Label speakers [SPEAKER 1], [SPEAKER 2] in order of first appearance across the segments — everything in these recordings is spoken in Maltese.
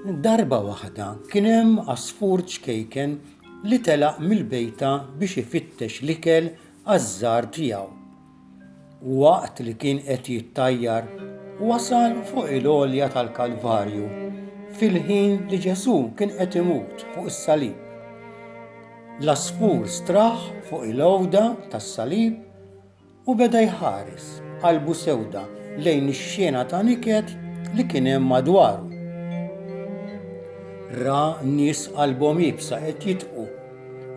[SPEAKER 1] Darba waħda kien hemm għasfur ċkejken li telaq mill-bejta biex ifittex l-ikel għaż-żgħar tiegħu. Waqt li kien qed jittajjar, wasal fuq il-għolja tal-Kalvarju fil-ħin li Ġesù kien qed imut fuq is-salib. L-għasfur straħ fuq il-għowda tas-salib u beda jħares b'qalbu sewda lejn ix-xena ta' niket li kien hemm madwaru. Ra nies qalbhom iebsa qed jitqu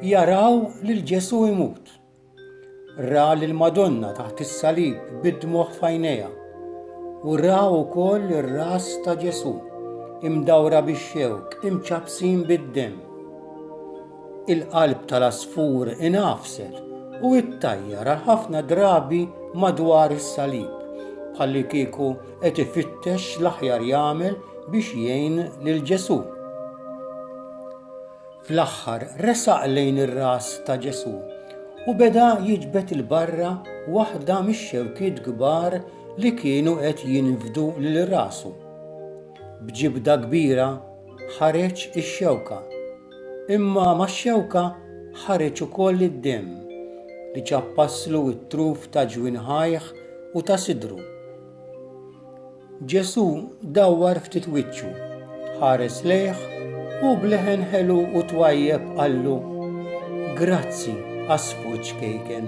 [SPEAKER 1] jaraw lil Ġesù jmut. Ra lill-Madonna taħt is-salib bid-dmugħ f'għajnejha u ra wkoll ir-ras ta' Ġesù imdawra bix-xewk, imċappsin bid-demm. Il-qalb tal-għasfur ingħafset u ttajjar għal ħafna drabi madwar is-salib bħalli kieku qed ifittex l-aħjar jagħmel biex jgħin lil Ġesù. Fl-aħħar resaq lejn ir-ras ta' Ġesù u beda jiġbed 'il barra waħda mix-xewkiet kbar li kienu qed jinfdu lil rasu. B'ġibda kbira ħareġ ix-xewka, imma max-xewka ħareġ ukoll id-demm li ċappaslu t-truf ta' ġwinħajh u ta' sidru. Ġesù dawwar ftit wiċċu, ħares lejh u b'leħen ħelu u twajjeb qallu, Grazzi għas-sfuġ ċkejken.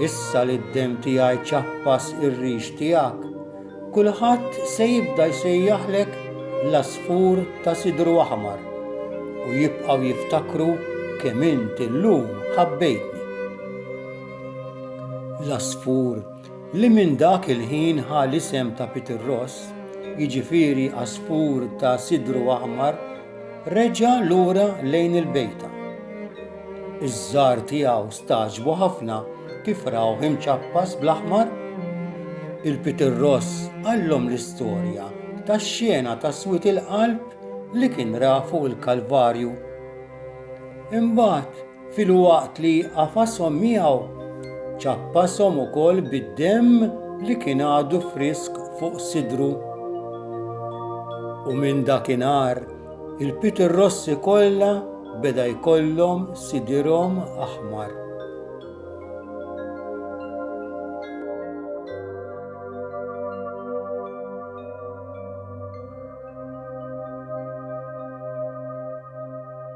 [SPEAKER 1] Issa li d-demm tiegħi ċappas ir-rix tiegħek, kulħadd se jibda jsejjaħlek l-għasfur ta' sidru aħmar u jibqgħu jiftakru kemm int illum ħabbejtni. L-għasfur li minn dak il-ħin ħa l-isem ta' Peter Ross, jiġifieri għasfur ta' sidru aħmar, reġa' lura lejn il-bejta. Iż-żgħar tiegħu stagħġbu ħafna kif rawh imċappas bl-aħmar. Il-Peter Ross qallhom l-istorja tax-xena ta' swied il-qalb li kien ra fuq il-Kalvarju. Imbagħad filwaqt li għafashom miegħu, ċappashom ukoll bid-demm li kien għadu frisk fuq sidru. U minn dakinhar, il-pitirrossi kollha beda jkollhom sidirhom aħmar.